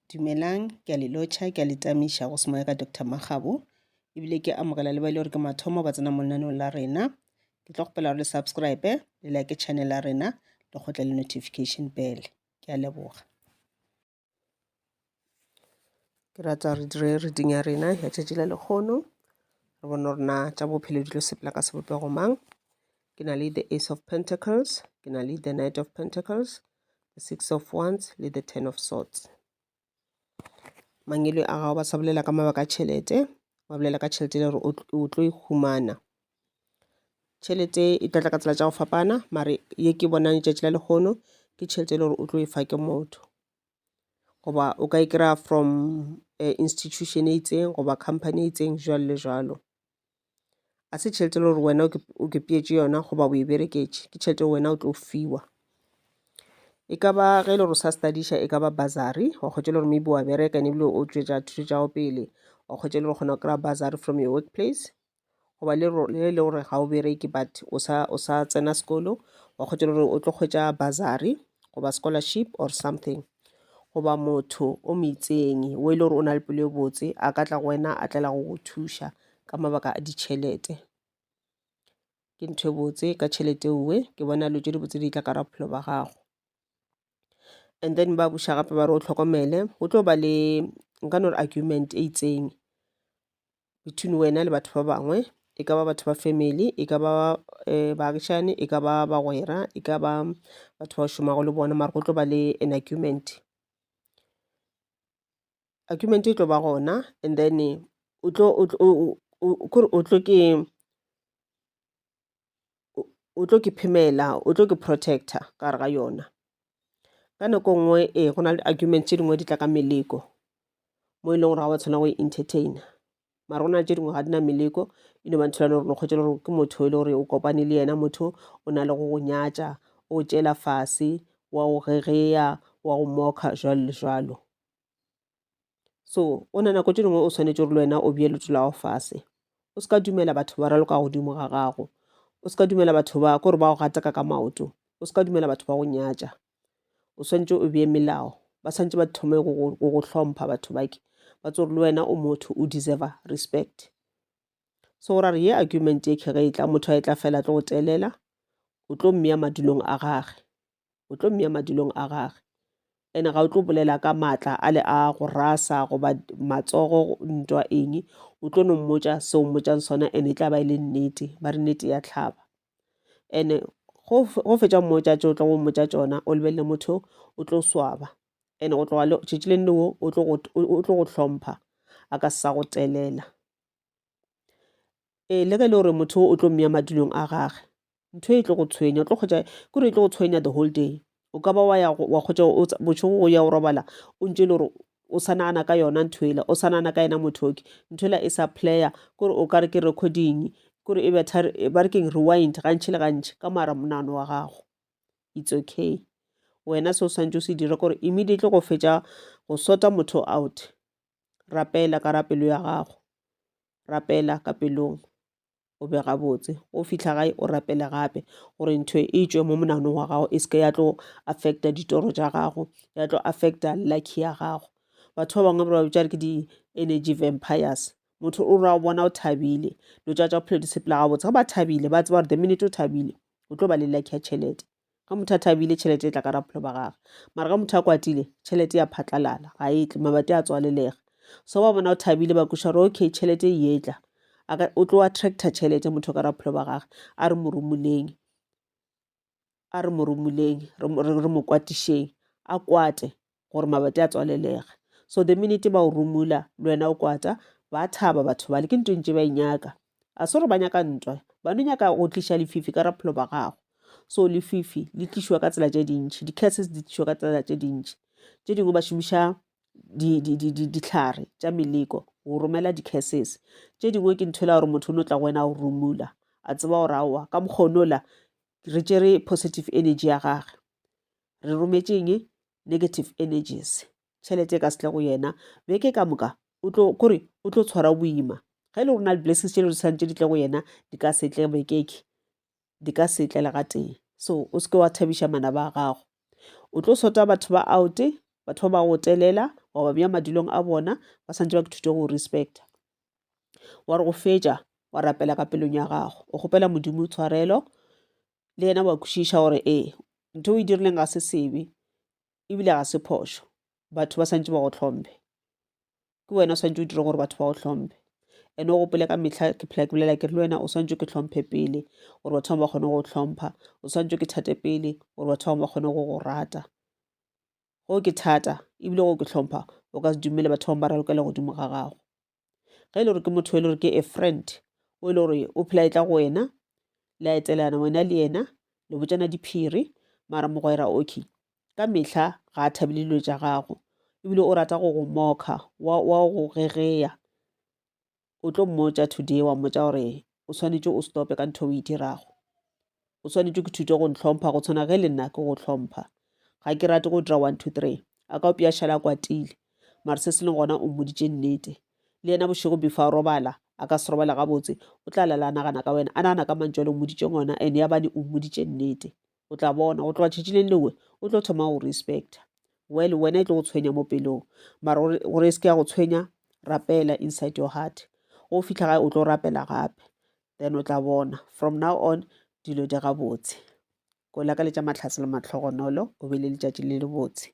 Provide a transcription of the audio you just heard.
Dumelang, ke a le lotšha, ke a le tamiša go se moya ka Doctor Makgabo, ebile ke amogela le ba e le gore ke mathomo ba tsena mo lenaneong la rena. Ke tlo kgopela gore le subscribe, le like channel ya rena, le kgotle le notification bell. Ke a leboga. Ke rata re dire reading ya rena ya tšatši la lekgono, re bone gore na tša bophelo di tlo sepela ka sebopego mang. Ke na le the Ace of Pentacles, ke na le the Knight of Pentacles, the six of wands le the ten of swords mangele a gago ba sa bolela ka mabaka a tšhelete ba bolela ka tšhelete le gore o tlo e humana tšhelete e tla tla ka tsela tša go fapana mare ye ke bonang letšatši la lekgono ke tšhelete e le gore o tlo e fa ke motho goba o ka e kry-a from eh, institution e itseng goba company e itseng jalo le jalo a se tšhelete e le gore wena o kepietše yona goba o e bereketše ke tšhelete wena o tlo fiwa e ka ba ge e le gore sa studiša e ka ba basary wa kgwetša le gore maybe wa bereka ene ebile o tšwetša thuto tša go pele wa kgwetša le gore kgona go kry-a basary from your workplace goba le e le gore ga o bereke but o sa o sa tsena sekolo wa kgwetša le gore o tlo kgwetša basary goba scholarship or something goba motho o meitseng o e le gore o na le pelo e botse a ka tla go wena a tlela go go thuša ka mabaka a ditšhelete. Ke ntho e botse ka tšhelete eo ke bona dilo tše di botse di tla ka bophelo ba gago. And then ba boša gape ba re o hlokomele go tlo ba le nka no re argument e itseng between wena le batho ba bangwe, e ka ba batho ba family, e ka ba baagišane, e ka ba bagwera, e ka ba batho bao šomago le bona mare go tlo ba le an argument. argument e tlo ba gona and then o tlo kore o tlo ke o tlo ke phemela o tlo ke protector ka gare ga yona ka nako e nngwe ee go na le argument tše dingwe di tla ka meleko mo e leng gore ga wa tshwana go e entertainer mara go na le tše dingwe ga di na meleko e no ba ntho lane gore lo kgwetše le gore ke motho e le gore o kopane le yena motho o na le go go nyatša o tšela fase wa go gegeya wa go moka jalo le jalo so o na nako tše dingwe o swanetše gore le wena o bje leto lago fase o se ka dumela batho ba raloka godimo ga gago o se ka dumela batho ba kore ba go gateka ka maoto o se ka dumela batho ba go nyatša o swanetše o bje melao ba swanetše ba thome go go hlompha batho bake ba tsore le wena o motho o deserve respect so go ra re ye argument ye kge ge e tla motho a e tla fela tlo go telela o tlo mmea madulong a gage o tlo mmea madulong a gage ene ga o tlo bolela ka maatla a le a go rasa goba matsogo ntwa eng o tlo no mmotsa se o mmotsang sona ene e tla ba e le nnete ba re nnete ya tlhaba ene go fetsa mmotsa tse o tla go mmotsa tsona o lebelele motho o tlo swaba ene go tloga tšatši le nne wo o tlo go hlompha a ka sa go telela ee le ge e le gore motho o tlo mmeya madulong a gage ntho e tlo go tshwenya o tlo kgotsa kore e tlo go tshwenya the whole day o ka ba wa ya wa kgotsa bošego go ya go robala o ntse e le gore o sa nagana ka yona ntho ela o sa nagana ka yena mothoki ntho ela e sa player kore o ka re ke recording kore e betha ba re keng rewind gantšhi le gantšhi ka mara monano wa gago it's okay wena se o swantse o se dira kore immediately go fetša go sota motho out rapela ka ra pelo ya gago rapela ka pelong o be gabotse go fihla gae o rapele gape gore ntho e tšwe mo monanong wa gago e seke ya tlo affecta ditoro tša gago ya tlo affecta lucky ya gago batho ba bangwe ba ba bitša ke di-energy vampires motho o ra o bona o thabile lo tša tša bophelo di sepela gabotse ga ba thabile ba tseba gore the minute o thabile o tlo ba le lucky ya tšhelete Ga motho a thabile tšhelete e tla ka rapholo ba gage, mara ga motho a kwatile tšhelete ya phatlalala ga e tle, mabati a tswalelega. So ba bona o thabile ba kuša gore okay tšhelete e etla o tlo attracta tšhelete motho ka rapholo ba gage a re moromoleng a re moromoleng re mo kwatišeng a kwate gore mabate a tswalelege so the minute ba o rumula le wena o kwata ba thaba batho bale ke ntho e ntše ba e nyaka a se gore ba nyaka ntwa ba no nyaka go tliša lefifi ka raphelo ba gago so lefifi le tlišiwa ka tsela tše dintšhi di-cases di tlišiwa ka tsela tše dintšhi tše dingwe ba šomiša ditlhare tša meleko go romela di-cases tše dingwe ke ntho e la gore motho o no tla go wena go rumula a tseba gore aowa ka mokgonola re tšere positive energy ya gage re rometšeng negative energies tšhelete e ka setle go yena beke ka moka o tlo kore o tlo tshwara boima ga e le rona di-blessings tše le di tshwanetse di tle go yena di ka setle bekeke di ka setle le ga tee so o seke wa thabiša mana ba gago o tlo sota batho ba oute batho ba ba go telela wa ba bja madulong a bona ba santse ba kethute go respecta wa re go fetša wa rapela ka pelong ya gago o kgopela modimo tshwarelo le yena wa kwešiša gore ee ntho o e dirileng ga se sebe ebile ga se phošo batho ba swantse ba go tlhomphe ke wena o swantse o dire gore batho ba go tlhomphe ene o gopole ka metlha ke phela ke bolela ke re le wena o swantse ke tlhomphe pele gore batho bangwe ba kgone go tlhompha o swantse ke thate pele gore batho bangwe ba kgone go go rata go ke thata ebile go ke tlhompha o ka se dumele batho bangwe ba ralokela godimo ga gago ge e le gore ke motho e le gore ke a friend o e le gore o phela e tla go wena le a etelana wena le yena le botšana diphiri mara mogwera okay ka mehla ga a thabile dilo tša gago ebile o rata go go moka wa go gegeya o tlo mmotša today wa mmotša gore o swanetše o stope ka ntho o e dirago O swanetše ke thute go ntlhompha go tshwana ge le nna ke go hlompha. Ga ke rate go dira one two three. A ka opša a šala a kwatile. Mare se se leng gona o mmoditše nnete. Le yena bošego before a robala, a ka se robale gabotse, o tla lala a nagana ka wena, a nagana ka mantšu a le mmoditšeng ona and yabane o mmoditše nnete. O tla bona, go tloga tšatši leng lewe, o tlo thoma go respecta. Well, wena e tlo go tshwenya mo pelong. Mare gore, gore e se ke ya go tshwenya, rapela inside your heart. Ge o fihla gae o tlo rapela gape. then o tla bona from now on dilo di gabotse. Ko lakaletša mahlatse le mahlogonolo, o be le letšatši le lebotse.